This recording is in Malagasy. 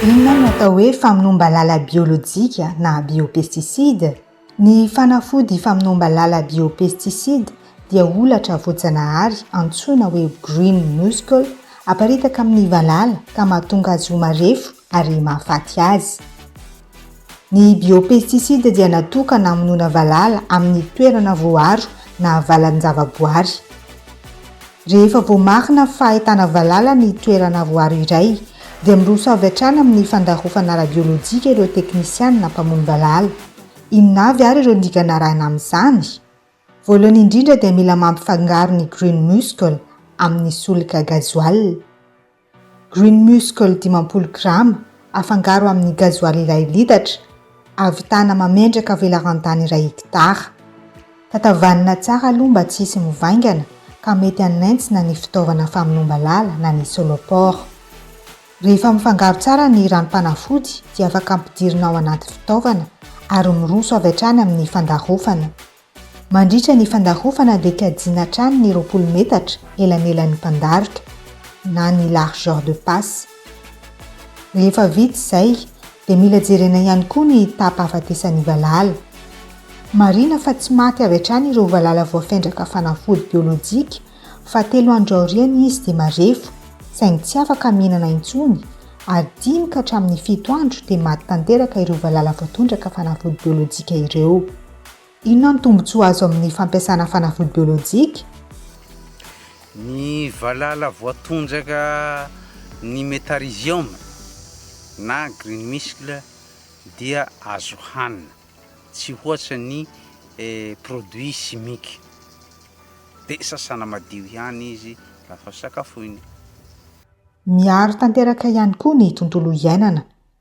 Inona no atao hoe famonoam-balala biolojika na biopestisida? Ny fanafody famonoam-balala biopestisida dia holatra voajanahary antsoina hoe green mussel aparitaka amin'ny valala ka mahatonga azy ho marefo ary mahafaty azy. Ny biopesticides dia natokana hamonoana valala amin'ny toerana voaaro na valan-javaboary. Rehefa voamarina fa ahitana valala ny toerana voaaro iray, dia miroso avy hatrany amin'ny fandrahofana ara-biolojika ireo teknisianina mpamono valala. Inona avy àry ireo dingana arahina amin'izany? Voalohany indrindra dia mila mampifangaro ny Green Musscle amin'ny solika gazoala. Green Muscle dimampolo grama afangaro amin'ny gazoaly iray litatra, ahavitana mamendraka velaran-tany iray hekitara. Tatavanina tsara aloha mba tsy hisy mivaingana ka mety hanentsina ny fitaovana famonoam-balala na ny soloport. Rehefa mifangaro tsara ny ranom-panafody dia afaka ampidirina ao anaty fitaovana ary miroso avy hatrany amin'ny fandarofana. Mandritra ny fandarovana dia kajiana hatrany ny roapolo metatra elanelan'ny mpandaroka na ny largeur de passe. Rehefa vita izay dia mila jerena ihany koa ny taham-pahafatesan'ny valala. Marihina fa tsy maty avy hatrany ireo valala voafendraka fanafody biolojika fa telo andro aoriana izy dia marefo saingy tsy afaka mihinana intsony ary dimy ka hatramin'ny fito andro dia maty tanteraka ireo valala voatondraka fanafody biolojika ireo. Inona ny tombontsoa azo amin'ny fampiasana fanafody biolojika? Ny valala voatondraka ny Metarhizium na green missle dia azo hanina, tsy hoatra ny produit chimique, dia sasana madio ihany izy rafa sakafoina. Miaro tanteraka ihany koa ny tontolo iainana.